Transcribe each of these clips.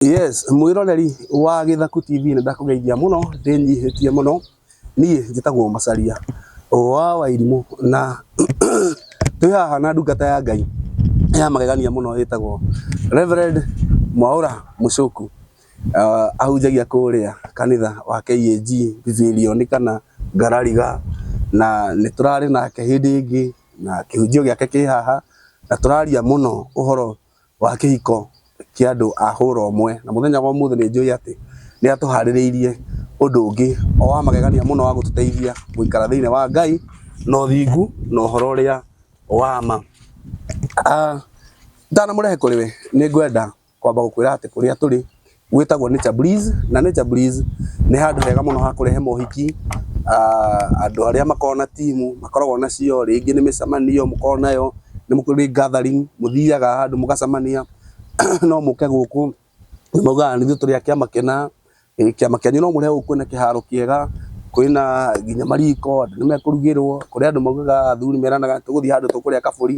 Yes, mwiroreri wa Githaku TV nĩ ndakũgeithia mũno ndĩnyihĩtie mũno niĩ njĩtagwo Macharia wa Wairimũ na twĩ haha na ndungata ya Ngai ya magegania mũno ĩtagwo Reverend Mwaũra Mũcũku uh, ahunjagia kũrĩa kanitha wa KAG Bibirioni kana Ngarariga na nĩ tũrarĩ nake hĩndĩ ĩngĩ na kĩhunjio gĩake kĩ haha na tũraria mũno ũhoro wa kĩhiko kĩa andũ a hũra ũmwe, na mũthenya wa ũmũthĩ nĩ njũĩ atĩ nĩ atũharĩrĩirie ũndũ ũngĩ o wa magegania mũno wa gũtũteithia gũikara thĩinĩ wa Ngai na ũthingu na ũhoro ũrĩa wa ma. Itanamũrehe kũrĩ we, nĩ ngwenda kwamba gũkwĩra atĩ kũrĩa tũrĩ Gwĩtagwo Nature Breeze, na Nature Breeze nĩ handũ hega mũno ha kũrehe mohiki, andũ arĩa makoragwo na timu makoragwo nacio, rĩngĩ nĩ mĩcemanio mũkoragwo nayo, nĩ kũrĩ gathering mũthiaga handũ mũgacemania, no mũke gũkũ, nĩ maugaga nĩ ithuĩ tũrĩ a kĩama kĩna, kĩama kĩanyu no mũrehe gũkũ kwĩna kĩharo kĩega, kwĩna nginya mariko, andũ nĩ mekũrugĩrwo, kũrĩ andũ maugaga athuri meranaga tũgũthiĩ handũ tũkũrĩa kabũri,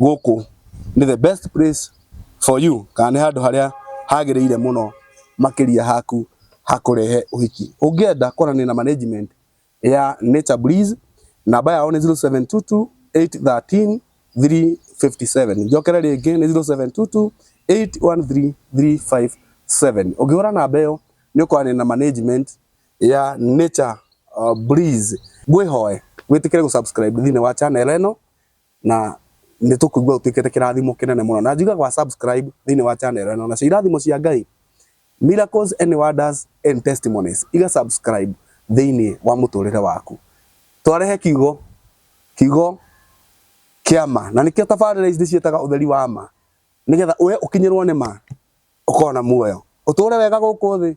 Gũkũ nĩ the best place for you kana nĩ handũ harĩa hagĩrĩire mũno makĩria haku hakũrehe ũhiki. Ũngĩenda kwaranĩria na management ya Nature Breeze, namba yao nĩ 0722 813 357. Njokere rĩngĩ nĩ 0722 813 357. Ũngĩhũra namba ĩyo nĩ ũkwaranĩria na management ya Nature Breeze. Ngwĩhoe wĩtĩkĩre gũ subscribe thĩinĩ wa channel ĩno na nĩ tũkũigua ũtuĩkĩte kĩrathimo kĩnene mũno na njuga gwa subscribe thĩinĩ wa channel ĩno nacio irathimo cia Ngai miracles and wonders and testimonies iga subscribe thĩinĩ wa mũtũrĩre waku twarehe kiugo kiugo kĩa ma na nĩkĩo tabarĩra ici ndĩciĩtaga ũtheri wa ma nĩgetha we ũkinyĩrwo nĩ ma ũkorwo na muoyo ũtũre wega gũkũ thĩ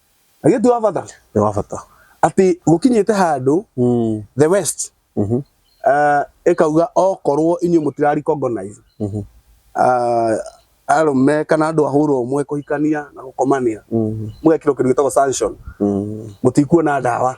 agĩtu wa bata nĩ wa bata atĩ mũkinyĩte handũ Mm, the west mhm, uh, ĩkauga okorwo inyuĩ mũtirarecognize mhm, uh, arũme kana andũ ahũrwo ũmwe kũhikania na gũkomania mhm, mũgekĩrwo kĩndũ gĩtagwo sanction mm, mũtikuona ndawa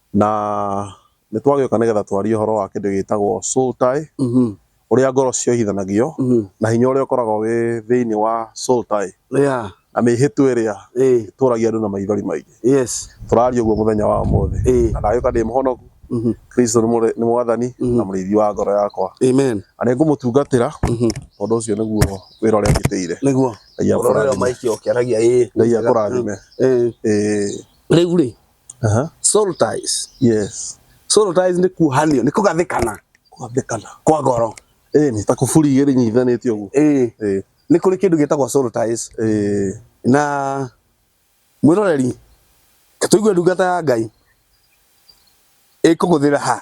na nĩ twagĩũka nĩgetha twarie ũhoro wa kĩndũ gĩtagwo soul tie Mhm. ũrĩa ngoro ciohithanagio Mhm. na hinya ũrĩa ũkoragwo wĩ thĩinĩ wa soul tie Yeah. na mĩhĩtwa ĩrĩa Eh. ĩtũragia andũ na maithori maingĩ Yes. tũraria ũguo mũthenya wa ũmũthĩ Eh. na ndagĩũka ndĩ mũhonoku Mhm. kristo nĩ mũrĩ- nĩ mwathani Mhm. na mũrĩithi wa ngoro yakwa Amen. na nĩ ngũmũtungatĩra Mhm. tondũ ũcio nĩguo wĩra ũrĩa njĩtĩire Nĩguo. ngai Ũrorera akũrathime maiki okĩaragia ĩ. ngai akũrathime Eh. Eh, Rĩu rĩ, Aha. soul ties Yes. soul ties nĩ kuohanio nĩ kũgathĩkana Kũgathĩkana. kwa ngoro Eh, nĩ ta kuburi igĩrĩ nyitithanĩtio ũguo. ĩĩ Eh, nĩ kũrĩ kĩndũ gĩtagwo soul ties eh, na mwĩroreri tũigue ndungata ya ngai ĩkũgũthĩra ha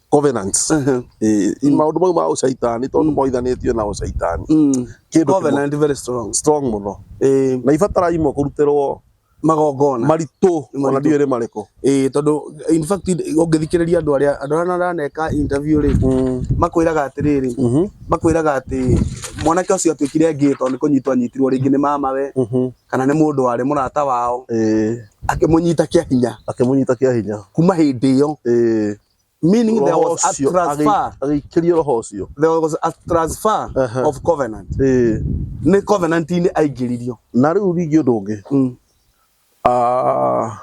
covenants Ehe. eh, Mm. maundu mau ma ucaitani tondu Mm. moithanitio na ucaitani Mm. kindu kimwe Covenant very strong. strong muno Eh, na ibatara imwe kurutirwo magongona. maritu ona Maritũ. ndiwe ni mariku Eh, tondu in fact ungithikiriria andu aria andu aria maraneka interview ri Mm, makwiraga atiriri mhm, makwiraga ati mwanake ucio atuikire ngii tondu nikunyitwo anyitirwo ringi ni mamawe mhm, kana ni mundu wari murata wao eh, akimunyita kia hinya akimunyita kia hinya kuma hindi iyo eh, meaning there Roho was a ũcio transfer agĩ- agĩikĩrio roho ũcio there was a transfer Aha. of covenant Ĩĩ. nĩ covenant inĩ aingĩririo na rĩu ningĩ ũndũ ũngĩ mm. Ah,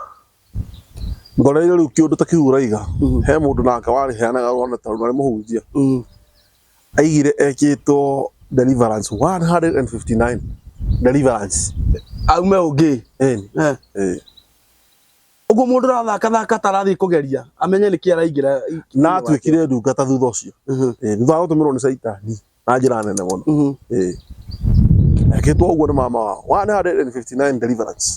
ngoreire rĩu kĩũndũ ta kĩu ũraiga Mhm. he mũndũ nake warĩheanaga rwana ta rũna mũhunjia Mm. aigire ekĩtwo deliverance 159 deliverance aume ũngĩ Ĩni. Eh. Ĩĩ. Ũguo mũndũ ũrathaka thaka atarathiĩ kũgeria amenye nĩkĩ araingĩra na atuĩkire ndungata thutha ũcio mhm. eh, thutha wa gũtũmĩrwo nĩ caitani na njĩra nene mũno mhm. eh. ekĩtwo ũguo nĩ mama wao 159 deliverance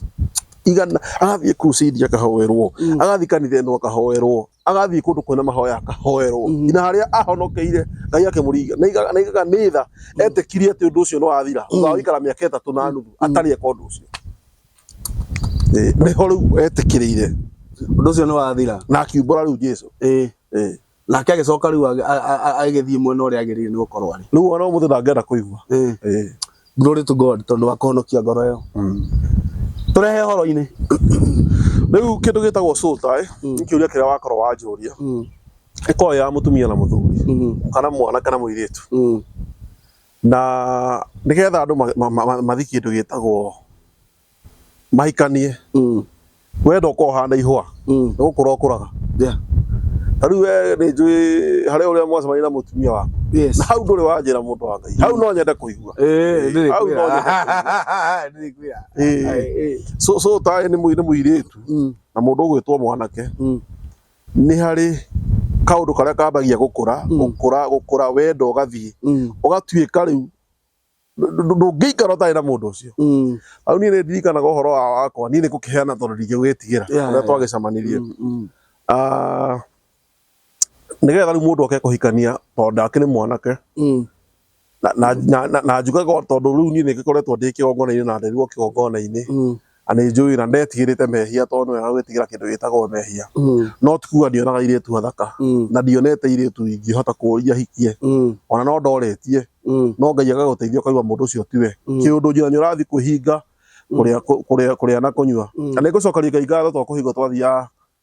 igana agathiĩ crusade akahoerwo mm. agathiĩ kanitha ĩno akahoerwo agathiĩ kũndũ kwĩna mahoya akahoerwo mm-hmm. ina harĩa ahonokeire ngai akĩmũringa na igana nĩ tha mm. etĩkirie atĩ ũndũ ũcio nĩ wathira thutha wa mm. gũikara mĩaka ĩtatũ na nuthu atarĩ eka ũndũ ũcio Ĩĩ, nĩho rĩu etĩkĩrĩire ũndũ ũcio nĩ wathira na akiumbũra rĩu jesu ĩĩ Ĩĩ. nake agĩcoka rĩu agĩ- a- a- a- agĩthiĩ mwena ũrĩa agĩrĩire nĩ gũkorwo arĩ rĩu ona ũmũthĩ ndangĩenda kũigua Ĩĩ. Ĩĩ. glory to god tondũ wa kũhonokia ngoro ĩyo tũrehe horo-inĩ rĩu kĩndũ gĩtagwo cũta ĩ nĩ kĩũria kĩrĩa wakorwo wanjũria ĩkorwo ya mũtumia na mũthuri kana mwana kana mũirĩtu Na nĩgetha andũ ma- ma- ma- mathiĩ kĩndũ gĩtagwo mahikanie Mm. we ndokorwo ũhana ihũa Mm. nĩ gũkũra ũkũraga Yeah. ta rĩu we nĩ njũĩ harĩa ũrĩa mwacemania na mũtumia waku Yes. na hau ndũrĩ wanjĩra mũndũ wa ngai hau no nyende kũigua Eh, nĩ Hau no kwĩra. Nĩ kwĩra. Ĩĩ. Ai, eh. so so taĩ nĩ mũi- nĩ mũirĩtu Mm. na mũndũ ũgwĩtwo mwanake Mm. nĩ harĩ kaũndũ karĩa kambagia gũkũra Mm. gũkũra gũkũra wenda ũgathiĩ Mm, ũgatuĩka rĩu ndũ- ndũ- ndũngĩikara ũtarĩ na mũndũ ũcio mm, hau niĩ nĩ ndirikanaga ũhoro wa- wakwa niĩ nĩ gũkĩheana tondũ ndingĩgwĩtigĩra Yeah, ũrĩa yeah. twagĩcamanirie mm, mm, Ah, nĩgetha rĩu mũndũ oke kũhikania tondũ ndakĩrĩ mwanake mm, na, na, na, na, na njugaga o tondũ rĩu niĩ nĩ ngĩkoretwo ndĩ kĩgongona-inĩ na nderirwo kĩgongona-inĩ Mm, na nĩ njũĩ na ndetigĩrĩte mehia tondũ nĩ wagwĩtigĩra kĩndũ gĩtagwo mehia mm, no ti kuga ndionaga irĩtu athaka mm, na ndionete irĩtu ingĩhota kũũria hikie mm, ona no ndoretie mm, no ngai agagũteithia ũkaigua mũndũ ũcio tiwe Mm. kĩũndũ njĩra nĩ ũrathiĩ kwĩhinga Mm. kũrĩa kũ- kũrĩa kũrĩa na kũnyua mm. na nĩ ngũcokeria ngai ngatho twa kũhinga twathiaga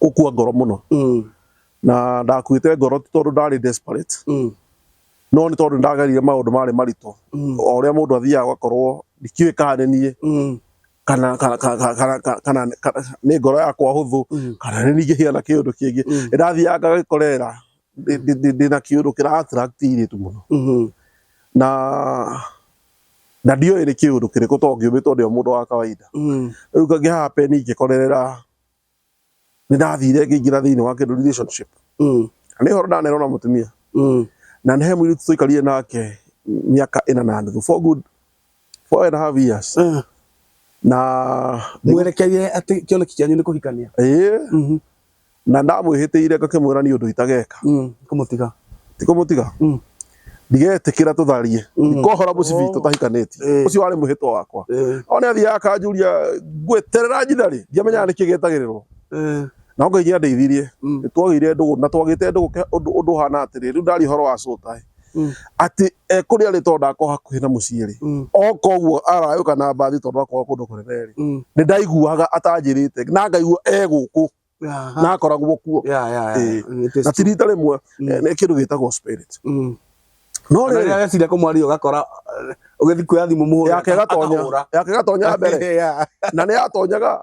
gũkua ngoro mũno Mm. na ndakuĩte ngoro ti tondũ ndarĩ desperate Mm. no nĩ tondũ ndagerire maũndũ marĩ maritũ Mm. o ũrĩa mũndũ athiaga ũgakorwo ndikĩũĩ kana nĩ niĩ Mm. kana kana kana kana kana- kana kana- nĩ ngoro yakwa hũthũ Mm. kana nĩ ningĩhia na kĩũndũ kĩngĩ Mm. ndathiaga ngagĩkorera ndina kiundu kira attract iritu muno Mhm. na na ndioe ni kiundu kiriku to ngiumitwo ndio mundu wa kawaida Mhm. riu ngi happen ngikorerera ni ndathire ngingira thiini wa kindu relationship Mhm. na ni horo ndanero na mutumia Mhm. na ni he muiritu tuikarire nake miaka ina na nuthu for good four and a half years Eh, na mwerekeire atĩ kĩoneki kĩanyu nĩ kũhikania ĩĩ Mhm, na ndamwĩhĩtĩire ngakĩmwĩra nĩ ũndũ itageka mm, kũmũtiga tikũmũtiga Mm. ndigetĩkĩra tũtharie Mm. ndikohora mũcibi Oh. tũtahikanĩtie Eh. ũcio warĩ mwĩhĩtwa wakwa Eh, ona athiaga akanjuria ngweterera njitha rĩ ndiamenyaga nĩkĩ getagĩrĩrwo eh, na ngai nĩandeithirie mm, nĩtwagĩire ndũgũ na twagĩte ndũgũ ke- ũndũ ũndũ ũhana atĩrĩ rĩu ndari ũhoro wa cũtaĩ Mm. atĩ e kũrĩa rĩ tondũ ndakorwo hakuhĩ na mũciĩ rĩ Mm. o koguo arayũka na mbathi tondũ akorwo kũndũ kũnene rĩ Mm. nĩ ndaiguaga atanjĩrĩte na ngaigua e gũkũ Aha. na akoragwo kuo Yeah, yeah, yeah. Eh, It is na ti true. rita rĩmwe Mm. eh, nĩ kĩndũ gĩtagwo spirit Mm. no Ona rĩrĩ rĩrĩa agecira kũmwaria ũgakora eh, ũgĩthiĩ kuoya thimũ mũhũre yake gatonya akahũra. yake gatonya mbere Yeah. na nä yatonyaga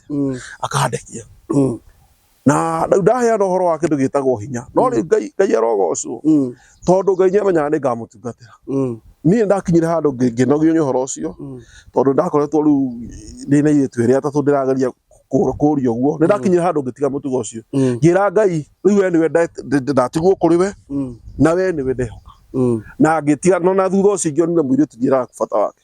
ahandĩte Mm. akahande kĩo Mm. na rĩu ndaheana ũhoro wa kĩndũ gĩtagwo hinya no rĩu ngai ngai arogocwo Mm. tondũ ngai nĩamenyaga nĩ ngamũtungatĩra Mm. niĩ ndakinyire handũ ngĩ- ngĩnogio nĩ ũhoro ũcio Mm. tondũ ndakoretwo rĩu ndĩ na irĩtu ĩrĩa atatũ ndĩrageria kũ- kũũria ũguo nĩ ndakinyire handũ ngĩtiga mũtugo ũcio Mm. ngĩra ngai rĩu we nĩwe nda- nda- ndatigwo kũrĩ we Mm. na we nĩwe ndehoka Mm. na ngĩtiga no na thutha ũcio ingĩonire mũirĩtu njĩraga bata wake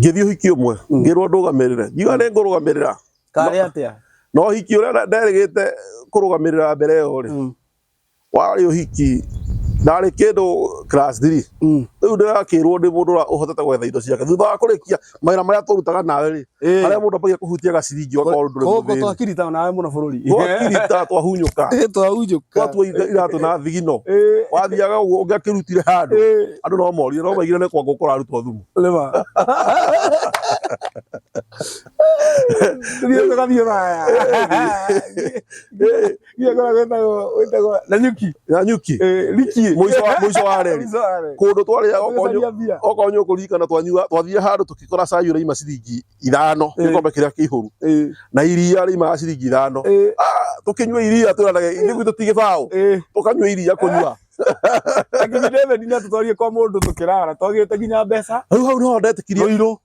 ngĩthiĩ ũhiki ũmwe mm. ngĩrwo ndũgamĩrĩre ngiuga nĩ ngũrũgamĩrĩra karĩ atĩa na ũhiki ũrĩa nderĩgĩte kũrũgamĩrĩra mbere ĩyo rĩ mm. warĩ ũhiki ndarĩ kĩndũ class 3 mm. rĩu ndĩrakĩrwo ndĩ mũndũ ũhotete gwetha indo ciake thutha wa kũrĩkia mawĩra marĩa tũrutaga nawe rĩ Eh. Harĩa mũndũ ambagia kũhutia gaciringi o kaũndũ ndũrĩ Koko mũthĩni. twakirita nawe mũno bũrũri. Twakirita twahunyũka. Eh, twahunjũka. Twatua ira- iratũ na thigino. Eh, Wathiaga ũguo ũngĩakĩrutire handũ. eh, Andũ no morire no maigire nĩ kwa ngũkũ ũrarutwo thumu. lema. Tũthiĩ tũgathiĩ Rũraya. Eh, Ile kwa kwetagwo wetagwo na nyuki. na nyuki Eh, riki. Mũico wa- mũico wa reri. Mũico wa reri. kå ndå twarä Gũcaria mbia. okorwo nyå kå ririkana twanyua twathire handå tå kikora cai å raima ciringi ithano Eh. gä kombe kä rä a kä ihå ru Eh, na iria rä imaga ciringi ithano eh, tå kä nyua iria twä ranage ithuä gwitå tigä baå eh. tå kanyua iria kå nyua Akinyire theni na tũtwarie kwa mũndũ tũkĩrara twagĩte nginya mbeca rä u hau no ndetä kirie Rũirũ.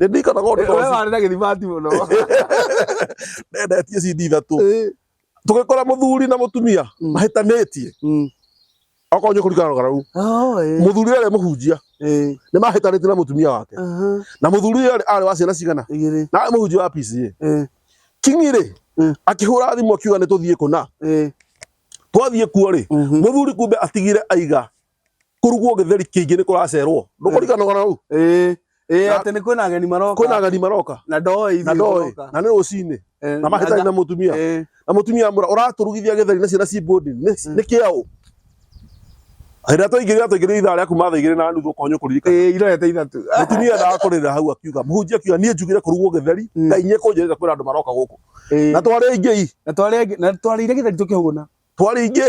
nĩ ndikona kũndũ Eh, we twa- warĩ na gĩthimati mũno ndendetie cindi ithatũ Eh, tũgĩkora mũthuri na mũtumia Mm. mahĩtanĩtie mm. okorwo nĩ kũringana na rũgara rũu Oh, eh, mũthuri ũrĩa mũhunjia eh, nĩ mahĩtanĩtie na mũtumia wake aha, na mũthuri ũrĩa arĩ wa ciana cigana igĩrĩ, na arĩ mũhunjia wa PCA eh, kingi rĩ Mm. akĩhũra thimũ akiuga nĩ tũthiĩ kũna eh, twathiĩ kuo rĩ mhm, mũthuri kumbe atigire aiga kũrugwo gĩtheri kĩingĩ nĩ kũracerwo ndũkũrikanaga na hau ĩĩ ĩĩ Na- atĩ nĩ kwĩna ageni maroka kwĩna ageni maroka na ndoĩ na ndoĩ na nĩ rũcinĩ na mahĩtani na mũtumia na mũtumia amwĩra ũratũrugithia gĩtheri na ciana ci bondi nĩ nĩ kĩaũ hĩndĩ ĩrĩa twaingĩrire atũingĩrire ithaa rĩa kuma thaa igĩrĩ na nuthu ũkonyo kũririkana ĩĩ irorete ithatũ mũtumia endaga kũrĩra hau akiuga mũhunjia akiuga niĩ njugire kũrugwo gĩtheri Mm. ngai nyie kũnjĩrĩra kwĩna andũ maroka gũkũ Ĩĩ. na twarĩ aingĩ i na twarĩ na twarĩire gĩtheri tũkĩhũna twarĩ aingĩ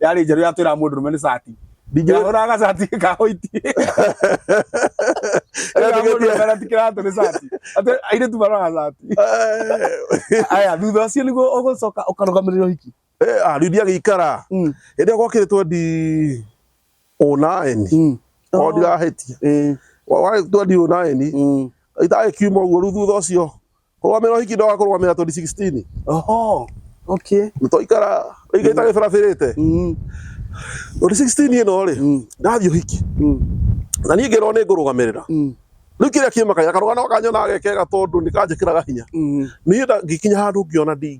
yarĩ njerũ yatwĩraga mũndũ rũme nĩ cati ndingĩahũraga gacati ka white Ĩraga mũndũ rũme na ti kĩratũ nĩ cati atĩ airĩtu maroraga cati aya thutha ũcio nĩguo ũgũcoka ũkarũgamĩrĩra ũhiki rĩu ndiagĩikara Mm, hĩndĩ ĩyo gwakĩrĩtwo ndi ũnaeni mm. o ndirahĩtia Eh, warĩtwo ndi ũnaeni mm. itagĩkiuma ũguo rĩu thutha ũcio Kũrũgamĩra ũhiki ndoga kũrũgamĩra 2016. Oho. Okay. Nĩ twaikara rĩngĩ itarĩ barabĩrĩte. Mm. 2016 ĩno rĩ, Mm. ndathiĩ ũhiki. Mm. Na niĩ ngĩrwo nĩ ngũrũgamĩrĩra. Mm. Rĩu kĩrĩa kĩmakagia karũgano gaka nyonaga gekega tondũ nĩ kanjĩkĩraga hinya. Mm. Niĩ nda- ngĩkinya handũ ngĩona ndi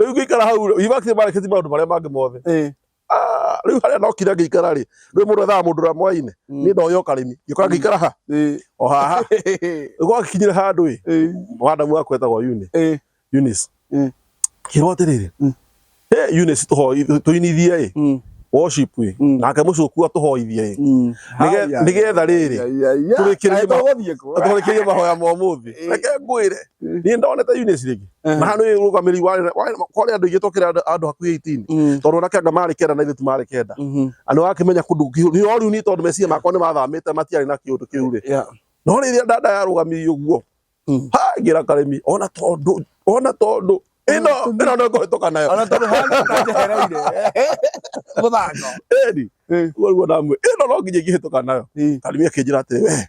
Rĩu ngĩikara hau university mareketi maũndũ marĩa mangĩ mothe. Eh. Ah, rĩu harĩa nokire ngĩikara rĩ, rĩu mũndũ ethaga mũndũ ũrĩa mwaine. Mm. Niĩ ndoya ũkarĩmi. Ngĩũka mm. ngĩikara ha? Eh. O haha. Rĩu gwakinyire handũ ĩ, eh. madamu wakwa etagwo Uni. Eh. Eunice. Mm. Ngĩrwo atĩrĩrĩ. Mm. Hey, Eunice tũinithie ĩ. Mm worship ä mm. nake må cå ku atå hoithie ä mm. nä getha rä rä tå rä kä rä rie mahoya ma må thä reke ngwä re niä ndonete rä ngä Eh. na handu uguo kamiri wari kwari andu ingi twakira andu hakuhi 18 mm. tondu nake anga mari kenda na ithu mari kenda mm-hmm. andu wake menya kundu ni oru ni tondu mesia makwa ni mathamite matiari na kiundu kiu ri no ri dada ya rugami uguo mm. ha gira karemi ona tondu ona tondu ino ino no ko toka nayo ona tondu hana ta jehera ire muthako eri uguo uguo ndamwe ino no nginye ngihitoka nayo karemi akinjira ati we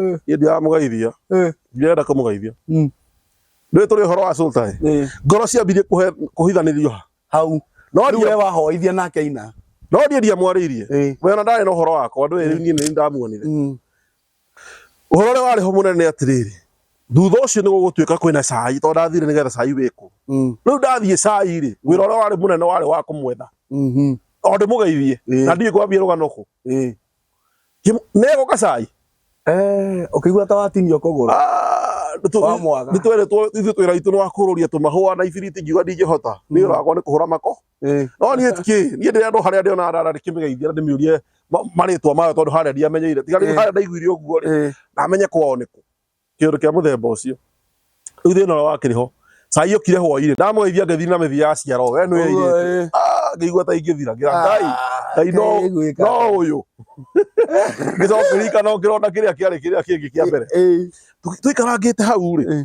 Eh. hĩndĩ ya mũgeithia Eh. ndirenda kũmũgeithia Mm. rĩu tũrĩ ũhoro wa sultai Eh, ngoro ciambirie kũhe- kũhithanĩrio ha hau no rĩu we ndiye- wahoithia nake aina no ndiĩ ndiamwarĩirie Eh. we ona ndarĩ na ũhoro wakwa ndũĩ rĩu niĩ nĩ ndamuonire Mm. ũhoro ũrĩa warĩ ho mũnene nĩ atĩrĩrĩ thutha ũcio nĩ gũgũtuĩka kwĩna cai tondũ ndathire nĩgetha cai wĩkwo Mm. rĩu ndathiĩ cai rĩ wĩra ũrĩa warĩ mũnene warĩ wa kũmwetha Mhm. o ndĩmũgeithie Eh. na ndiĩ kwambia rũgano kũ Eh. Nego kacai. Eh, ukigua ta watinio kuguru. Ah, nĩ twerĩtwo ithuĩ twĩra witũ nĩ wa kũrũria tũmahũa na ibiriti ngiuga ndingĩhota nĩ wĩra wakwa nĩ kũhũra mako no niĩ kĩ niĩ ndĩrĩa andũ harĩa ndĩona arara ndĩkĩmĩgeithia na ndĩmĩũrie marĩtwa mayo tondũ harĩa ndiamenyeire tiga rĩu harĩa ndaiguire ũguo rĩ ndamenya kwao nĩkũ kĩũndũ kĩa mũthemba ũcio rĩu thĩna ũrĩa wakĩrĩ ho cai ũkire hwainĩ ndamũgeithia ngĩthiĩ na mĩthia ya ciaro we nĩ ĩirĩte Ah, ngĩigua ta ingĩthira ngĩra ngai ngai no no ũyũ ngĩcoka ngĩrika no ngĩrona kĩrĩa kĩarĩ kĩrĩa kĩngĩ kĩa mbere Tũ- tũikarangĩte hau rĩ Eh.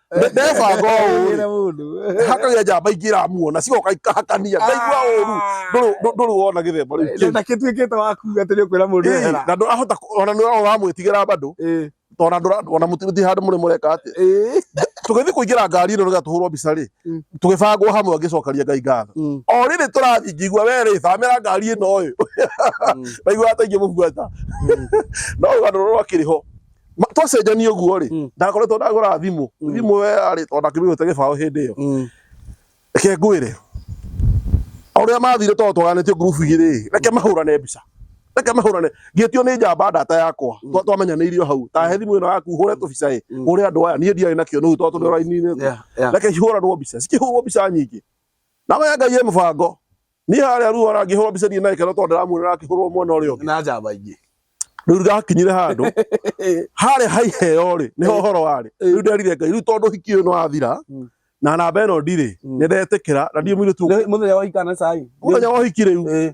Nĩ- ndebanga ũũ rĩ mũndũ hakagia njamba ingĩ iramuona cigoka ikahakania ndaigua ũru ndũrĩ- ndũ- ndũrĩ wona gĩthemba rĩu kĩu. na kĩtuĩkĩte waku atĩ nĩ ũkwĩra mũndũ Ĩĩ, ehera na ndũrahota kũ- ona nĩ ũramwĩtigĩra bado Ĩĩ, tona ndũrona mũtirĩ handũ mũrĩ mũreka atĩ ĩĩ. tũgĩthiĩ kũingĩra ngari ĩno nĩgetha tũhũrwo mbica rĩ Mm. tũgĩbangwo hamwe ngĩcokaria ngai ngatho Mm, o rĩrĩ tũrathiĩ ngĩigua we rĩ thamĩra ngari ĩno ũyũ mm, ndaigua ataingĩ mũbuata mm. no rũgano rũrũ akĩrĩ ho Ma- twacenjania ũguo rĩ Mm. ndakoretwo ndagũra thimũ Mm. thimũ we arĩ o ndakĩmĩhũte gĩbaũ hĩndĩ ĩyo Mm. reke ngwĩre ũrĩa mathire tondũ twaganĩtio ngurubu igĩrĩ rĩ, reke mahũrane mbica reke mahũrane ngĩtio nĩ njamba ndata yakwa Twa- twamenyanĩirio hau tahe thimũ ĩno yaku hũre tũbica ĩ Mm. hũre andũ aya niĩ ndiarĩ nakĩo nĩu tondũ tũrĩ raini-inĩ Yeah, yeah. reke cihũranwo mbica cikĩhũrwo mbica nyingĩ Namo ya Ngai ĩ mũbango. Niĩ harĩa ruo arangĩhũrwo mbica ndirĩ na gĩkeno tondũ ndĩramuonera akĩhũrwo mwena ũrĩa ũngĩ. Na njamba ingĩ. Rĩu ngakinyire handũ harĩa ha iheo rĩ nĩho ũhoro warĩ. Rĩu nderire Ngai rĩu tondũ ũhiki ũyũ nĩ wathira mm. na namba ĩno ndirĩ mm. nĩ ndetĩkĩra na ndiĩ mũirĩtu. Mũthenya wa ũhiki kana cai. Mũthenya wa ũhiki rĩu.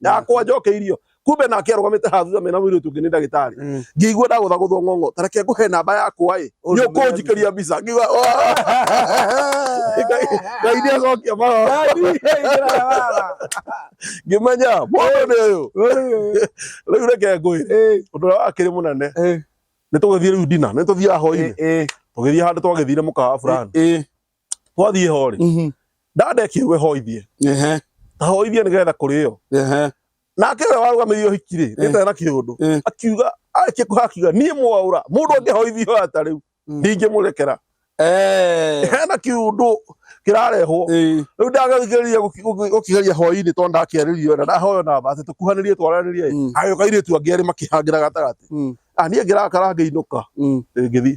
na akwa njokeirio kumbe nake arugamite ha thutha mena mwiri tungi ni ndagitari mm. ngigua ndagutha guthwo ngongo tareke nguhe namba yakwa i ni ukunjikiria mbica ngigua ngai ni acokia mara ngimenya mundu ni uyu riu reke ngwire eh. undu uria wakiri munene eh. ni tugithie riu ndina ni tuthia hoini eh, tugithia handu twagithire mukawa fulani twathiĩ ho rĩ Mhm. ndanda ĩkĩrwo ĩhoithie Ehe. ta hoithie nĩgetha kũrĩo Ehe. nake ũrĩa warũgamĩrĩire ũhiki rĩ rĩtarĩ na kĩũndũ Eh. akiuga arĩkia kũha akiuga niĩ mwaũra mũndũ angĩhoithio ata rĩu Mm. ndingĩmũrekera Eh. hena kĩũndũ kĩrarehwo Eh. rĩu ndageririe gũkĩgeria hwainĩ tondũ ndakĩarĩrio na ndahoyo namba atĩ tũkuhanĩrie twaranĩrie ĩ, Mm. agĩũka airĩtu angĩ erĩ makĩhangĩra gatagatĩ Mm. Ah, niĩ ngĩrakara ngĩinũka Mm. ngĩthiĩ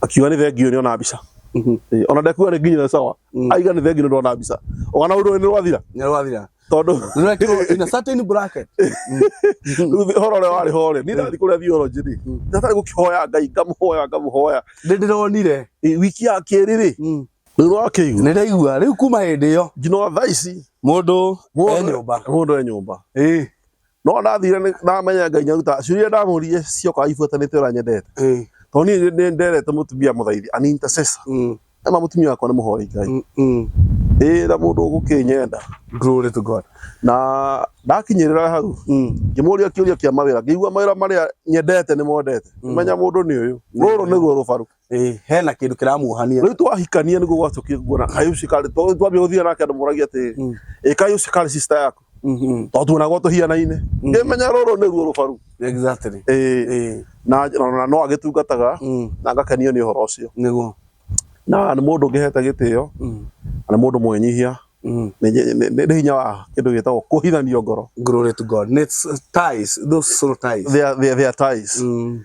akiuga nĩ thengio nĩ ona mbica Mhm. Eh, ona ndekuga nĩ nginyĩre sawa Mm. aiga nĩ thengio nĩ ndona mbica ona ũndũ nĩ rwathira Nĩ rwathira. tondũ Nĩ rwekĩrwo in a certain bracket. rĩu thĩ- ũhoro ũrĩa warĩ ho rĩ niĩ ndathi kũrĩa theology rĩ Mm. ndatarĩ gũkĩhoya ngai ngamũhoya ngamũhoya Nĩ ndĩronire. Eh, wiki ya kerĩ rĩ Mm. rĩu nĩwakĩigua Nĩ ndaigua. Rĩu kuma hĩndĩ ĩyo nginya thaa ici mũndũ e nyũmba. mũndũ e nyũmba Ĩĩ. no ndathire nĩ- ndamenya ngai nyaruta ciũria iria ndamũrire ciokaga ibuatanĩte ũrĩa nyendete Eh, tondũ niĩ nĩ nderete mũtumia mũthaithi an intercessor mm, ema mũtumia wakwa nĩ mũhoi ngai mm, mm. ĩra mũndũ ũgũkĩnyenda Glory to God. na ndakinyĩrĩra hau Mm, ngĩmũria kĩũria kĩa mawĩra ngĩigua mawĩra marĩa nyendete nĩ mondete Mm. menya mũndũ nĩ ũyũ rũrũ nĩguo rũbaru Eh, hena kindu kiramuohania riu twahikania niguo gwacokire nguona kaĩ ucio karĩ to twambia guthia nake andu moragia ati Mm. ĩ kaĩ ucio karĩ sister yaku Mhm. to tuonagwo tuhihanaine Mm. ngimenya ruru niruo rubaru exactly Ĩ, Eh, na na no agitungataga mm, na ngakenio ni uhoro ucio niguo na nĩ mũndũ ngĩhete gĩtĩo Mm, na nĩ mũndũ mwĩnyihia mm. nĩ nĩ- nĩ- nĩ hinya wa kĩndũ gĩtagwo kũhithanio ngoro glory to god It's, uh, ties those soul ties they are, they are, they are ties mm.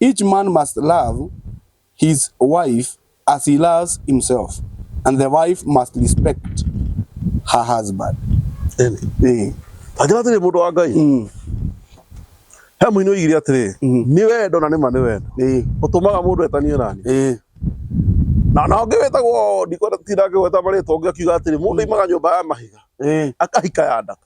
Each man must love his wife as he loves himself and the wife must respect her husband. Amen. Eh. Agĩra tĩrĩ mũndũ wa Ngai. Mm. He mũini oigire atĩrĩ, mm. nĩ wendo na nĩ ma nĩ wendo. Eh. Ũtũmaga mũndũ etanie nani. Eh. Na na ũngĩ wĩtagwo ndikwenda tinda ngĩgweta marĩtwa ũngĩ akiuga atĩrĩ mũndũ mm. imaga nyũmba ya mahiga. Eh. Akahika ya ndaka.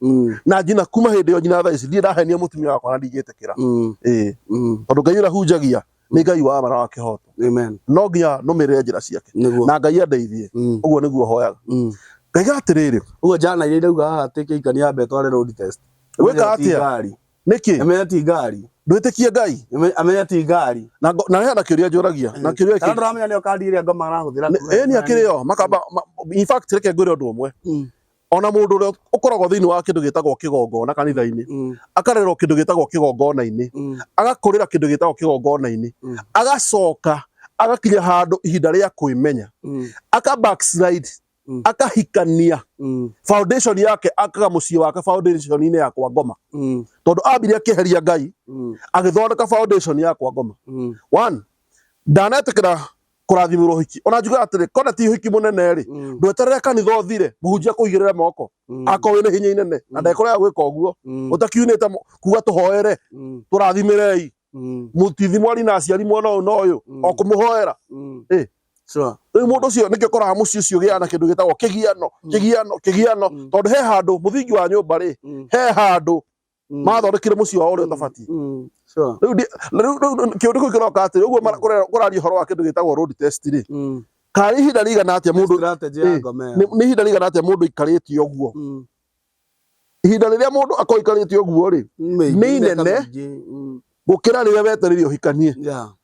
Mm. na njina kuma hindi yo njina thaa ici ndirĩ ndahenia mutumia wakwa na ndingĩtĩkĩra Mm. ĩĩ Mm. tondũ ngai ũrĩa hunjagia nĩ ngai wa mara wa kĩhoto Amen. no nginya nũmĩrĩre njĩra ciake Nĩguo. na ngai andeithie Mm. ũguo nĩguo hoyaga Mm. ngaiga atĩrĩrĩ Ũguo jana iria irauga haha atĩ kĩika nĩ ambe tware road test. Gwĩka Amenye ti atĩa? ngari. nĩkĩ Amenye ti ngari. ndwĩtĩkie ngai Ame- Amenye ti ngari. na ngo- na he na kĩũria njũragia na kĩũria Kana kĩ- ndũramenya nĩyo kandi ĩrĩa ngoma arahũthĩra. Nĩ- ĩĩ nĩ akĩrĩ yo makamba ma- in fact reke ngwĩre ũndũ ũmwe Mm. ona mundu uria ukoragwo thiini wa kindu gitagwo kigongona kanitha-ini mm. akarerwo kindu gitagwo kigongona-ini mm. agakurira kindu gitagwo kigongona-ini mm. agacoka agakinya handu ihinda ria kwimenya aka backslide akahikania foundation yake akaga mucii wake foundation ini yakwa ngoma tondu ambire akiheria ngai agithondeka foundation yakwa ngoma one ndanatikira kurathimira uhiki ona njuga atiri kona ti uhiki munene ri mm. ndweterere kanitha uthire muhunjia kuigirira moko mm. ako wina hinya inene mm. na ndekora gwika uguo utakiunite kuga tuhoere turathimirei mutithi mwari na aciari mwana uyu na uyu o kumuhoera eh sure riu mundu ucio nikio koraga mucii ucio giana kindu gitagwo kigiano kigiano kigiano tondu he handu muthingi wa nyumba ri he handu Mm. mathondekire muciĩ wao ũrĩa ũtabatiĩ Mm. Sure. rĩu ndi- na rĩu- rĩu- rĩu kĩũndũ kĩu kĩroka atĩrĩ ũguo mara- kũre- kũraria ũhoro wa kĩndũ gĩtagwo road test rĩ Mm. kana nĩ ihinda rĩigana atĩa mũndũ Strategy ya Eh, ngome nĩ yao. nĩ ihinda rĩigana atĩa mũndũ aikarĩtie ũguo Mm. ihinda rĩrĩa mũndũ akorwo aikarĩtie ũguo rĩ Mĩingĩ, nĩ mĩaka inene. mĩingĩ. Mm. gũkĩra rĩrĩa wetereire ũhikanie Yeah.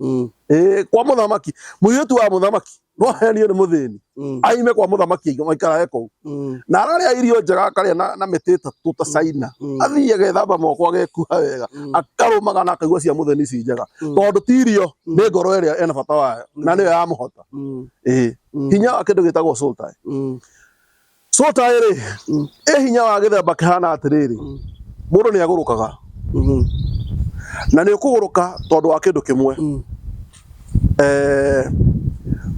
Mm. Eh, kwa muthamaki muiritu wa muthamaki no henio ni muthini Mm. aime kwa muthamaki aingi maikara eko Mm. na araria irio njega akaria na, na miti itatu ta caina Mm. athiĩ agethamba moko agekuha wega Mm. akarumaga na akaigua cia mutheni ici njega Mm. tondu ti irio Mm. nĩ ngoro ĩrĩa ena bata wayo na nĩyo yamũhota Mm. Ĩĩ. Mm. hinya wa kĩndũ gĩtagwo soul tie Mm. Sota ĩrĩ ĩ hinya wa gĩthemba kĩhana atĩrĩrĩ, mũndũ nĩ agũrũkaga Mhm. na nĩ ũkũgũrũka tondũ wa kĩndũ kĩmwe Mm. Eh,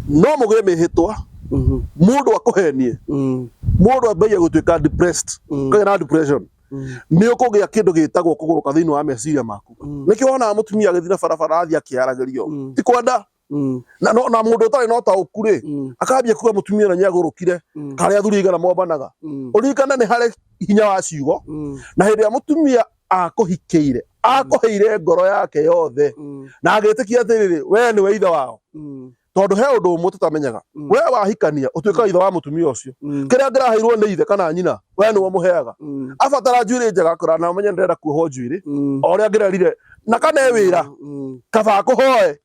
no mũgĩe mĩhĩtwa Mhm. mũndũ akũhenie Mm. mũndũ ambagia gũtuĩka depressed Mm. kagĩa na depression Mm. nĩ ũkũgĩa kĩndũ gĩtagwo kũgũrũka thĩinĩ wa meciria maku Mm. nĩkĩo wonaga mũtumia agĩthiĩ na barabara athiĩ akĩaragĩrio Mm. ti kwenda Mm. na no- na mũndũ ũtarĩ na ũtaũku rĩ Mm. akambia kuga mũtumia ũrĩa nĩagũrũkire Mm. karĩa athuri aigana mombanaga Mm. ũririkane nĩ harĩ hinya wa ciugo Mm. na hĩndĩ ĩrĩa mũtumia akũhikĩire akũheire ngoro yake yothe Mm. na agĩtĩkia atĩrĩrĩ wee nĩwe ithe wao Mm. tondũ he ũndũ ũmwe tũtamenyaga Mm. wee wahikania ũtuĩkaga ithe wa mũtumia ũcio Mm. kĩrĩa ngĩraheirwo nĩ ithe kana nyina wee nĩwe mũheaga Mm. abatara njuĩrĩ njega kũra na menye ndĩrenda kuohwo njuĩrĩ Mm. o ũrĩa ngĩrerire na kana e wĩra Mm. kaba akũhoe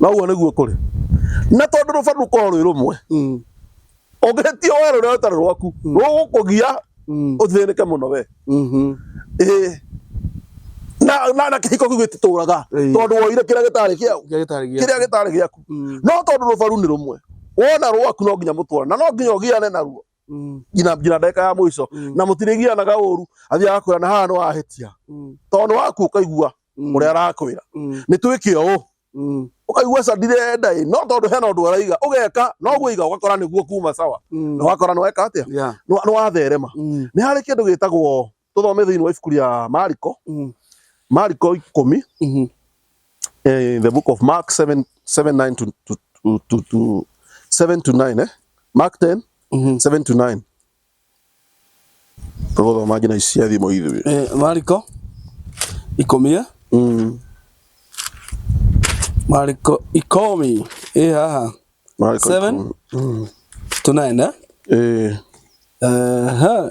na ũguo nĩguo kũrĩ na tondũ rũba rũkorwo rwĩ rũmwe mm. ũngĩhĩtia we rũrĩa ũtarĩ rwaku mm. rũgũkũgia mm. ũthĩnĩke mũno we mm-hmm. na na kĩhiko kĩu gĩtitũraga tondũ woire kĩrĩa gĩtarĩ kĩau kĩrĩa gĩtarĩ gĩaku no tondũ rũbaru nĩ rũmwe wona rwaku no nginya mũtwarana na no nginya ũgiane naruo Mm. nginya nginya ndagĩka ya mũico Mm. na mũtirĩgianaga ũru athiaga kwĩra na haha nĩ wahĩtia Mm. tondũ nĩ waku ũkaigua Mm. ũrĩa arakwĩra Mm. nĩ twĩke ũũ Mm. ũkaigua ca ndirenda ĩ no tondũ hena ũndũ araiga ũgeka no gwĩiga ũgakora nĩguo kuma sawa Mm. na wakora nĩ weka atĩa Yeah. Nĩ wa- nĩ watherema Mm. nĩ harĩ kĩndũ gĩtagwo tũthome thĩinĩ wa ibuku rĩa mariko Mm. mariko ikũmi Mhm. eh, the book of mark 7 7 9 to, to, to, to, to 7 to 9 eh? mark 10 Mhm. 7 to 9 tũgũthoma ngina ici cia thimo ithuĩ Eh, mariko ikomie Mm. mariko ikomi ĩ haha Mariko Seven? ikũmi. to nine eh? Eh, Aha.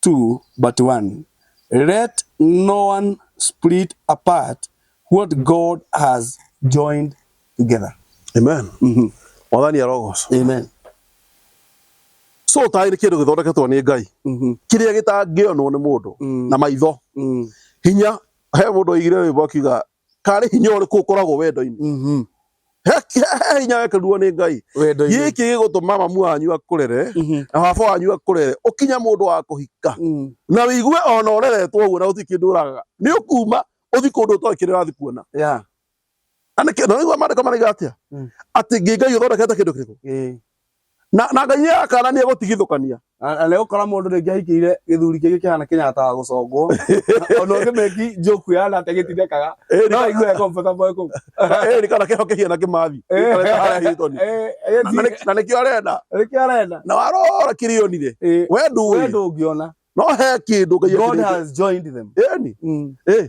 two but one, let no one split apart what God has joined together. amen mwathani arogocwo Amen. so taĩ nĩ kĩndũ gĩthondeketwo nĩ ngai Mhm. kĩrĩa gĩtangĩonwo nĩ mũndũ Mm. na maitho Mm. hinya he mũndũ oigire rwĩmbo akiuga karĩ hinya ũrĩkũ ũkoragwo wendo-inĩ Mhm. he he- he hinya wekerirwo nĩ ngai Wendo-inĩ. gĩkĩ gĩgũtũma mamu wanyu akũrere Mhm. na baba wanyu akũrere ũkinye mũndũ wa kũhika Mm. na wĩigue ona ũreretwo ũguo na gũtirĩ kĩndũ ũragaga nĩ ũkuma ũthi kũndũ ũtoĩ kĩrĩa ũrathi kuona Yeah. na nĩkĩ- na nĩguo maandĩko maraiga atĩa Mm. atĩ ngĩ ngai ũthondekete kĩndũ kĩrĩkũ Ĩĩ. na na ngai nĩ akanania gũtigithũkania Na- na nĩgũkora mũndũ rĩngĩ ahikĩire gĩthuri kĩngĩ kĩhana kĩnyata wa gũcongwo ona ũngĩ meki njoku yana atĩ gĩtindekaga Ĩri- no aigue comfortable kũu ĩri kana kĩho kĩhiana kĩmathi Eh. Gĩikarĩte harĩa Hilton. Eh, eh, Na- na nĩ- na nĩkĩo arenda nĩkĩo arenda na warora kĩrĩonire Eh, we we ndũĩ ndũngĩona no he kĩndũ ngai God akĩrĩte. has joined them Ĩni, Mm. ĩ,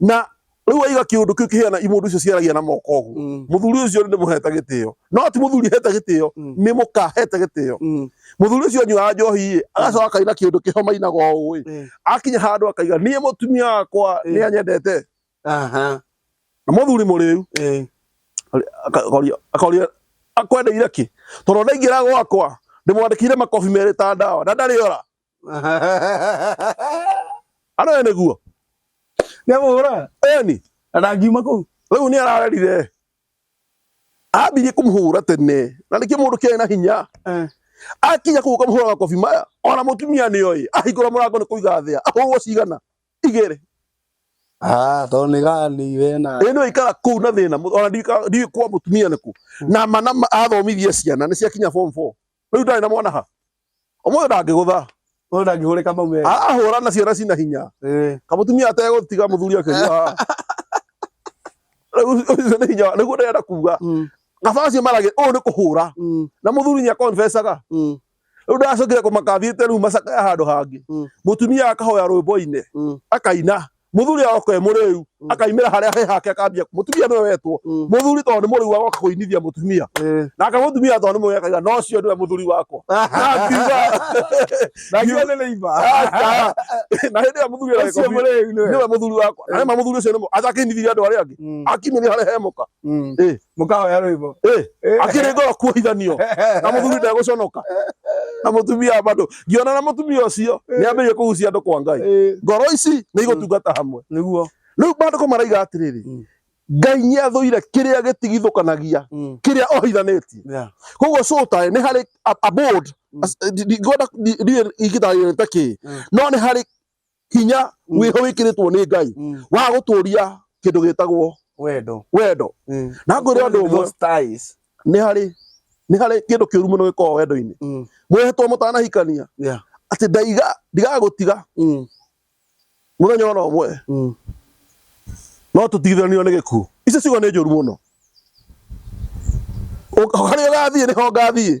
na riu waiga kiundu kiu kihiana imundu icio ciaragia na moko uguo Mm. muthuri ucio ni muheta gitio no ti muthuri heta gitio Mm. ni mukahete gitio Mm. muthuri ucio anyuaga njohi agacoka akaina kiundu kiho mainaga uu Eh. akinya handu akaiga nie mutumia wakwa Eh. ni anyendete Aha. na muthuri muriu Eh. akaria akaria akwendeire ki tondu ndaingira gwakwa ndimwandikire makobi meri ta ndawa na ndari ora Aroe nĩguo. Nĩamũhũra. Eni. Na ndangiuma kũu. Rĩu nĩ ararerire. Ambirie kũmũhũra tene. Na nĩkĩo mũndũ kĩarĩ na hinya. Eh. Akinya kũu ũkamũhũra makobi maya. Ona mũtumia nĩ oĩ. Ahingũra mũrango nĩ kũiga thĩa. Ahũrwo cigana. Igĩrĩ. Ah, to nĩ gani we na. Ĩ nĩ ikara kũu na thĩna. Ona ndiũĩ kwa mũtumia nĩkũ. Hmm. Na mana athomithia ciana nĩ ciakinya form 4. Rĩu ndarĩ na mwana ha. Ũmũthĩ ndangĩgũtha. Ũyũ ndangĩhũrĩka maume. Ahũra na ciana cina hinya. Eh. Kamutumia ategũtiga mũthuri akĩnyua. Rĩu ũcio nĩ hinya nĩguo ndĩrenda kuga. Mm. Kabaci marage ũyũ nĩ kũhũra. Mm. Na mũthuri nĩ akonfesaga. Mm. Rĩu ndacokire kũmakathiĩte rĩu macakaya handũ hangĩ. Mũtumia akahoya rwĩmbo-inĩ. Akaina. muthuri agoka e muriu Mm. akaimira haria he hake akambia mutumia niwe wetwo Mm. muthuri tondu ni muriu agoka kuinithia mutumia Eh. nake mutumia tondu ni mwekaga no cio niwe muthuri wakwa Na ngiuga, Na ngiuga nĩ nĩiba. "Aca." na hindi ya muthuri Ũcio arakobi mũrĩu nĩwe. niwe muthuri wakwa na rĩma muthuri ucio nĩ mu- acakinithirie andå arĩa angĩ Mm, akimenya harä hemuka mm. mũkahoya rwĩmbo Eh, akĩrĩ ngoro kuohithanio na mũthuri ndegũconoka na mũtumia bado ngiona na mũtumia ũcio nĩ ambĩrĩrie kũgucia andũ kwa ngai Eh, ngoro ici nĩ igũtungata hamwe nĩguo rĩu maandĩko maraiga atĩrĩrĩ Mm. ngai nĩ athũire kĩrĩa gĩtigithũkanagia Mm, kĩrĩa ohithanĩtie yeah. koguo cũtae nĩ harĩ a- a board. Mm. As- ndi- ndi- ngwenda- ndi- ndiũĩ ingĩtarĩria nĩ ta kĩĩ Mm. no nĩ harĩ hinya mm. wĩho wĩkĩrĩtwo nĩ ngai mm. wa gũtũria kĩndũ gĩtagwo wendo wendo mm. na ngwĩre ũndũ ũmwe nĩ harĩ nĩ harĩ kĩndũ kĩũru mũno gĩkoragwo wendo-inĩ mm. mwehetwo mũtanahikania atĩ ndaiga ndigagũtiga mm. mũthenya ona ũmwe mm. no tũtigithanio nĩ gĩkuũ icio ciugo nĩ njũru mũno harĩa ũgathiĩ nĩho ngathiĩ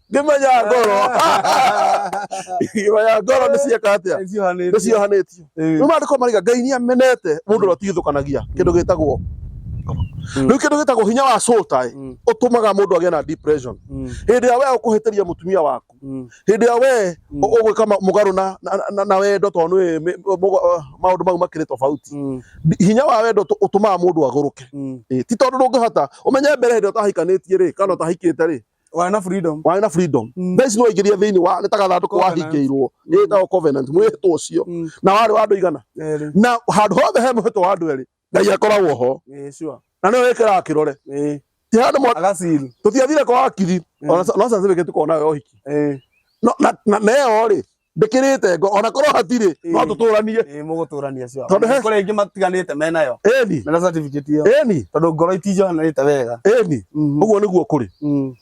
ngĩmenya ngoro ngĩmenya ngoro nĩ cieka atĩa nĩ Nĩciohanĩtio. ciohanĩtio Ĩĩ. rĩu maandĩko mariga ngai nĩ amenete mũndũ ũrĩa ũtigithũkanagia kĩndũ gĩtagwo ngoro Mm. rĩu kĩndũ gĩtagwo hinya wa sotai Mm. ũtũmaga mũndũ agĩe na depression Mm, hĩndĩ ĩrĩa wee ũkũhĩtĩria mũtumia waku mm, hĩndĩ ĩrĩa wee Mm. ũ- ũgwĩka ma- mũgarũ na- na- na- na wendo tondũ nĩ mĩ- mũgo- maũndũ mau makĩrĩ tofauti mm, hinya wa wendo tũ- ũtũmaga mũndũ agũrũke mm, Ĩĩ, ti tondũ ndũngĩhota ũmenye mbere hĩndĩ ũtahikanĩtie rĩ kana ũtahikĩte rĩ Warĩ na freedom. warĩ na freedom Mm. thaa ici nĩwaingĩria thĩinĩ wa nĩ ta gathandũkũ Covenant. wahingĩirwo Mm. ĩtagwo covenant mwĩhĩtwo ũcio Mm. na warĩ wa andũ igana Erĩ. na handũ hothe he mũhĩtwo wa andũ erĩ ngai akoragwo ho Eh, sure. na nĩwe wĩkĩraga kĩrore Eh, ti handũ mwa- agasil. tũtiathire kwa wakiri Mm. ona sa- no certificate tukonayo ya ũhiki Eh, No- na- na na ĩyo rĩ ndĩkĩrĩte ngo ona korwo hatirĩ no Ĩĩ. tũtũranie Ĩĩ, mũgũtũrania cio Tondũ he- kũrĩa ingĩ matiganĩte me nayo ĩni mena certificate ĩyo ĩni tondũ ngoro itinjohanĩte wega ĩni Mm, ũguo nĩguo kũrĩ mm,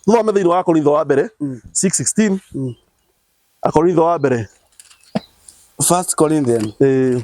thome thĩinĩ wa akorintho wa mbere mm, 6:16 mm. akorintho wa mbere First Corinthians eh,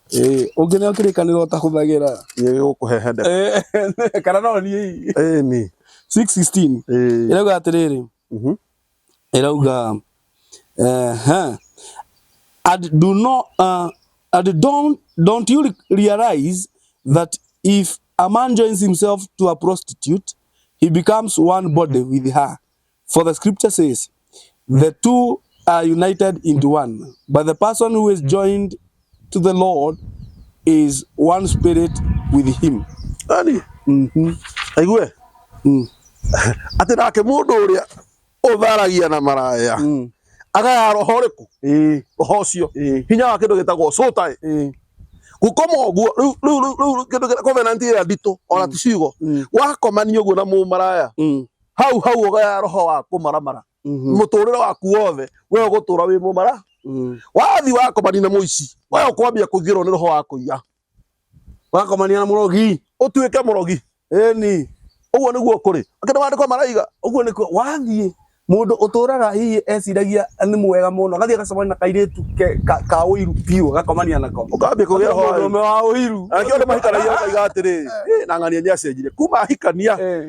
Eh, ũngĩ nĩ okĩrĩkanĩra ũtahũthagĩra Yeye gũkũhehenda. Eh, kana no niĩ Eh, ni. 616 Eh. ĩrauga atĩrĩrĩ Mhm. ĩrauga eh, huh. and do not uh, and don't don't you re- realize that if a man joins himself to a prostitute he becomes one body with her For the scripture says, the two are united into one. But the person who is joined to the Lord is one spirit with him. Ani, Mhm. aigue. Mm. Atĩ nake mũndũ ũrĩa ũtharagia na maraya. Mm. Agaya roho ũrĩkũ? Eh, Roho ũcio. eh, Hinya wa kĩndũ gĩtagwo soul tie. eh. gukoma ũguo rĩu rĩu rĩu rĩu kĩndũ kĩrĩa covenant ĩrĩa nditũ ona ti ciugo Mm. wakomanio ũguo na mũmaraya Mm. hau hau ũgaya roho wa kũmaramara Mhm. mũtũrĩre waku wothe we ũgũtũra wĩ mũmara Mhm. wathi wakomania na mũici we ũkwambia kũingĩrwo nĩ roho wa kũiya wakomania na mũrogi ũtuĩke mũrogi eni ũguo nĩguo kũrĩ akĩndũ mandĩko maraiga ũguo nĩkuo wathiĩ mũndũ ũtũraga hihi eciragia nĩ mwega mũno agathiĩ agacemania na kairĩtu ke- ka- ka ũiru biũ agakomania nako ũkambia kũgĩa roho wa ũiru. mũndũ wa ũiru Angĩ andũ mahikanagia ũkaiga atĩrĩ "Ĩ, na ng'ania nĩ acenjire kuma ahikania Eh.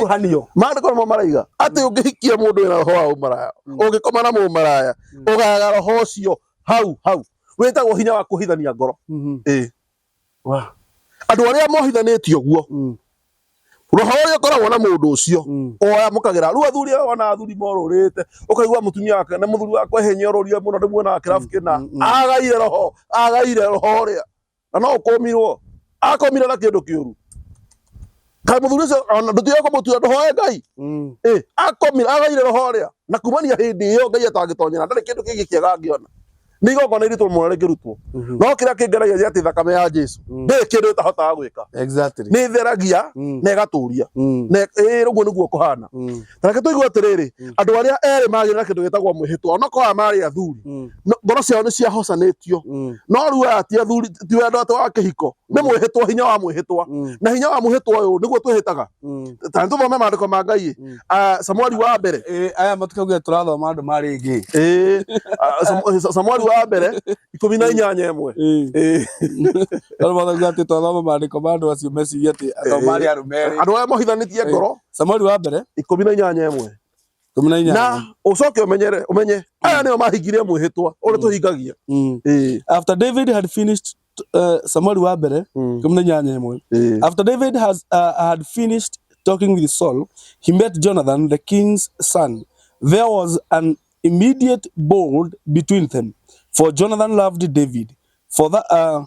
kuhanio maandĩko nĩmo maraiga atĩ ũngĩhikia mũndũ wĩna roho wa ũmaraya Mm. ũngĩkoma na mũmaraya Mm. ũgaga roho ũcio hau hau wĩtagwo hinya wa kũhithania ngoro Mhm. Ĩĩ. Wa. andũ arĩa mohithanĩtio guo Mm. roho ũrĩa ũkoragwo na mũndũ ũcio Mm. oyamũkagĩra rĩu athuri aya wana athuri morũrĩte ũkaigua mũtumia wake na mũthuri wakwa hinya ũrũria mũno ndĩmuonaga kĩrabu kĩna Mm, mm, mm. agaire roho agaire roho ũrĩa na no ũkũmirwo akomire na kĩndũ kĩũru kaĩ mũthuri ũcio ona ndũtiga kũmũtua ndũhoe ngai Mm. Eh, akomire agaire roho ũrĩa na kumania hĩndĩ ĩyo ngai atangĩtonyera ndarĩ kĩndũ kĩngĩ kĩega angĩona nĩ igongona iritũ mũno rĩngĩrutwo Mhm. no kĩrĩa kĩngeragia nĩ atĩ thakame ya jesu Mm. ndĩrĩ kĩndũ ĩtahotaga gwĩka Exactly. nĩ ĩtheragia Mm. na ĩgatũria Mm. na ĩ- ĩ- ũguo nĩguo kũhana Mm. reke tũigue atĩrĩrĩ Mm. andũ arĩa erĩ magĩrĩ na kĩndũ gĩtagwo mwĩhĩtwa onokorwo aya marĩ athuri Mm, no- ngoro ciao nĩ ciahocanĩtio mm, no rĩu aya ti athuri ti wendo atĩ wa kĩhiko nĩ mwĩhĩtwa hinya wa mwĩhĩtwa mm, na hinya wa mwĩhĩtwa ũyũ nĩguo twĩhĩtaga mm. ta nĩtũthome maandĩko ma ngai Mm. Ah, samueli wa mbere Eh, aya matukagĩa tũrathoma andũ marĩ ngĩ Ĩĩ, ah, Samu- Sa- samueli wa mbere ikũmi na inyanya ĩmwe Ĩĩ. tondũ mathauga atĩ twathoma maandĩko ma andũ acio meciria atĩ atao marĩ arũme erĩ andå arä a mohithanä ngoro Samueli wa mbere ikũmi na inyanya ĩmwe ikũmi na inyanya na ũcoke ũmenyere ũmenye aya nĩo mahingirie mwĩhĩtwa ũrĩa tũhingagia Mm. Ĩĩ. after David had finished uh, Samuel wa mbere Mm. ikũmi na inyanya ĩmwe Ĩĩ. after David has uh, had finished talking with Saul he met Jonathan the king's son there was an immediate bold between them for Jonathan loved David for that uh,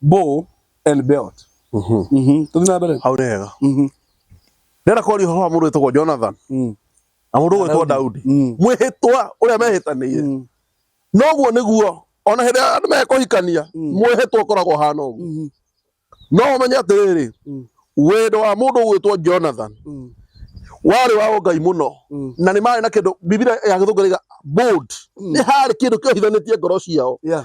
Bo and Belt. Mhm. Mhm. Tũthiĩ na mbere. hau nĩ hega Mhm. ndĩrenda kwaria ũhoro wa mũndũ wĩtagwo jonathan Mm. na mũndũ gwĩtwo daudi Mm. mwĩhĩtwa ũrĩa mehĩtanĩire Mm. noguo nĩguo ona hĩndĩ ĩrĩa andũ mekũhikania Mm. mwĩhĩtwa ũkoragwo hana ũguo Mhm. no ũmenye atĩrĩrĩ Mm. wendo wa mũndũ gwĩtwo jonathan Mm. warĩ wa ũngai mũno Mm. na nĩ marĩ na kĩndũ bibilia ya gĩthũngariga bold Mm. nĩ harĩ kĩndũ kĩohithanĩtie ngoro ciao Yeah.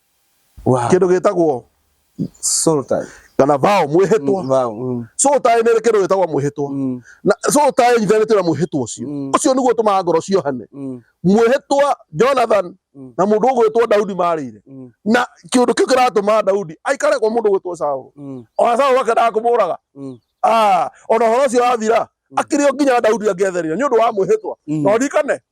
Wow. Kĩndũ gĩtagwo Soul tie. kana vao mwĩhĩtwa. Mm, vao, mm. Soul tie nĩ ĩrĩ kĩndũ gĩtagwo mwĩhĩtwa. Mm. Na soul tie ĩnyitithanĩtio na mwĩhĩtwa ũcio. Mm. Ũcio nĩguo ũtũmaga ngoro ciohane. Mm. Mwĩhĩtwa Jonathan Mm. na mũndũ ũgwĩtwo Daudi marĩire. Mm. Na kĩndũ kĩu kĩratũma Daudi aikare kwa mũndũ ũgwĩtwo Saũlũ. Mm. Ona Saũlũ akendaga kũmũũraga. Mm. Ah, ona ũhoro ũcio wathira Mm. akĩrĩ o nginya Daudi angĩethereire nĩ ũndũ wa mwĩhĩtwa. Mm. No ndirikane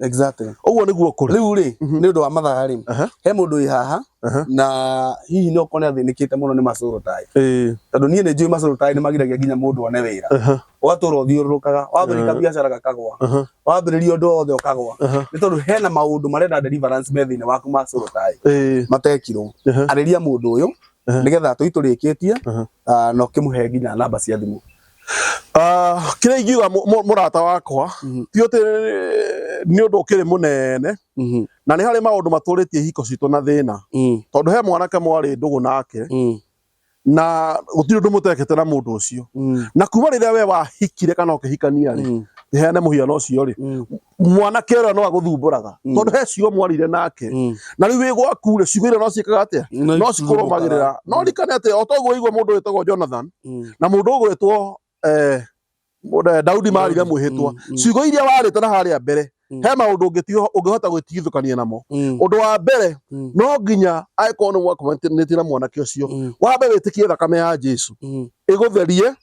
exactly ũguo nĩguo kũrĩ rĩu rĩ mhm. nĩ ũndũ wa mathaa rĩ he mũndũ wĩ haha na hihi no kone athĩnĩkĩte mũno nĩ macũrũ taĩ tondũ niĩ nĩ njũĩ macũrũ taĩ nĩ magiragia nginya mũndũ one wĩra ũgatũra ũthiũrũrũkaga wambĩrĩria biacara gakagwa wambĩrĩria ũndũ wothe ũkagwa nĩ tondũ hena maũndũ marenda deliverance me thĩinĩ waku macũrũ taĩ matekirwo arĩria mũndũ ũyũ nĩgetha tũitũrĩkĩtie ah, na ũkĩmũhe nginya namba cia thimũ Ah, kĩrĩa ingiuga mũ- mũ- mũrata wakwa Mhm. ti ũtĩ nĩ ũndũ ũkĩrĩ mũnene Mhm. na nĩ harĩ maũndũ matũrĩtie ihiko citũ na thĩna Mm. tondũ he mwanake mwarĩ ndũgũ nake Mm. na gũtirĩ ũndũ mũtekĩte na mũndũ ũcio Mm. na kuma rĩrĩa we wahikire kana ũkĩhikania rĩ Mm. heane mũhiano ũcio rĩ Mm. mwanake ũrĩa no agũthumbũraga Mm. tondũ he ciugo mwarire nake Mm. na rĩu wĩ gwaku rĩ ciugo iria no ciĩkaga atĩa No no cikũrũmagĩrĩra no Mm. rikane atĩ o toguo igua mũndũ wĩtagwo jonathan Mm. na mũndũ ũgwĩtwo eh, mũndũ- eh, daudi marire Daudi, mwĩhĩtwa mm, mm. ciugo iria warĩte na harĩa mbere Mm. he maũndũ ũngĩtiho- ũngĩhota gwĩtigithũkania namo Mm. ũndũ wa mbere Mm. no nginya angĩkorwo nĩ mwakomanĩtie na mwanake ũcio Mm. wambe wĩtĩkie thakame ya jesu Mm. ĩgũtherie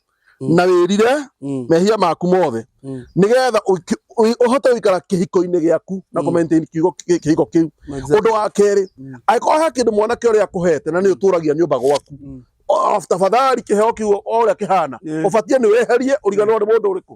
Mm. na wĩrire Mm. mehia maku mothe Mm. nĩgetha ũiki- ũi- ũhote gũikara kĩhiko-inĩ gĩaku na Mm. kũmaintain kiugo kĩ- kĩhiko kĩu Exactly. ũndũ wa kerĩ Mm. angĩkorwo he kĩndũ mwanake ũrĩa akũhete na nĩ ũtũragia nyũmba gwaku Mm. O- tafadhali kĩheo kiu o ũrĩa kĩhana Yeah. ũbatiĩ nĩ weherie ũriganĩrwo nĩ mũndũ ũrĩkũ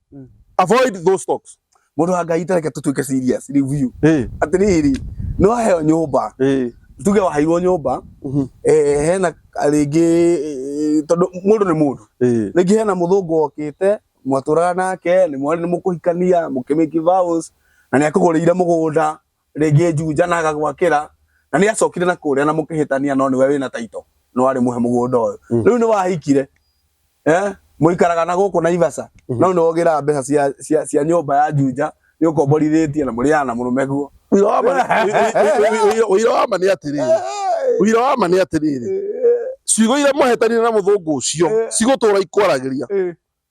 Mm. avoid those talks mundu wa ngai tareke tutuike serious review Eh, atiriri ni waheo nyumba eh, tuge waheirwo nyumba mhm, eh, hena rĩngĩ eh, tondũ mũndũ nĩ mũndũ eh, rĩngĩ hena mũthũngũ okĩte mwatũraga nake nĩ mwarĩ nĩ mũkũhikania mũkĩmĩki vows na nĩ akũgũrĩire mũgũnda Rĩngĩ Juja na agagwakĩra na nĩ acokire na kũrĩa na mũkĩhĩtania no nĩwe wĩna taito no arĩ mũhe mũgũnda ũyũ. Mm. Rĩu nĩ wahikire eh, mũikaraga na gũkũ Naivasha mm-hmm. no nĩ wogĩraga mbeca cia, cia, cia nyũmba ya Juja nĩ ũkomborithĩtie na mũrĩaga na mũrũme guo. Ũira wa ma nĩ atĩrĩrĩ, ũira wa ma nĩ atĩrĩrĩ, ciugo iria mwahetanire na mũthũngũ ũcio eh. cigũtũra ikwaragĩria eh.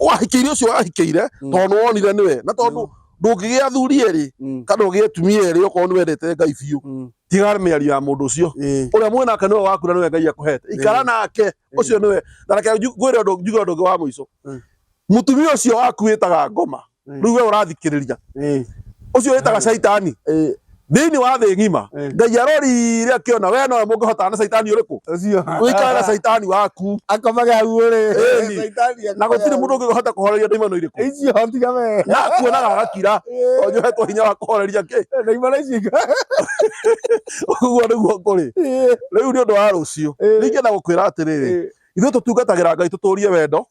wahikiire ucio wahikiire mm. tondu wonire niwe na tondu ndungigia athuri eri mm. kana ugie atumia eri okorwo ni wendete ngai biu mm. tigara miario ya mundu ucio uria mwe nake niwe waku na niwe ngai akuhete ikara nake ucio niwe na reke ngwire undu njuge undu ungi wa muico mutumia ucio waku witaga ngoma riu we urathikiriria ucio witaga shaitani thĩinĩ wa thĩ ng'ima eh. ngai arorire akĩona we nowe mũngĩhotana na caitani ũrĩkũ ũikare na caitani waku akomage hau ũrĩ na gũtirĩ mũndũ ũngĩhota kũhoreria ndaimano irĩkũ na kuonaga agakira eh. onjohetwo hinya wa kũhoreria kĩ ũguo nĩguo kũrĩ eh. rĩu nĩ ũndũ wa rũciũ ningĩ na gũkwĩra atĩrĩrĩ ithuĩ tũtungatagĩra ngai tũtũrie wendo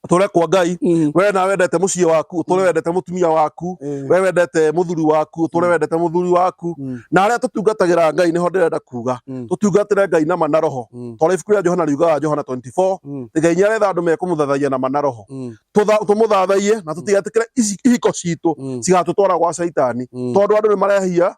tũre kwa ngai mm. we na wendete muciĩ waku tũre mm. wendete mutumia waku eh. we wendete muthuri waku tũre mm. wendete muthuri waku na arĩa tũtungatagĩra ngai nĩho ndĩrenda kuga tũtungatĩre ngai na mana roho tondũ ibuku rĩa johana riugaga johana 24 ngai ngai nĩaretha andũ mekũmũthathaia na mana roho tũmũthathaie na tũtigetĩkĩre ihiko citũ cigatũtwara gwa caitani tondũ andũ nĩ marehia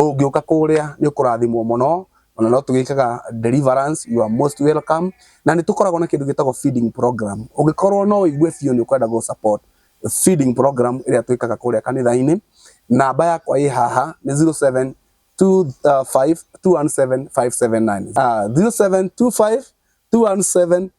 Ũngĩũka kũrĩa nĩ ũkũrathimwo mũno, ona no tũgĩkaga deliverance, you are most welcome. Na nĩ tũkoragwo na kĩndũ gĩtagwo feeding program. Ũngĩkorwo no ũigue biũ nĩ ũkwenda gũ support feeding program ĩrĩa twĩkaga kũrĩa kanitha-inĩ, namba yakwa ĩ haha nĩ 0725217579, 0725217579.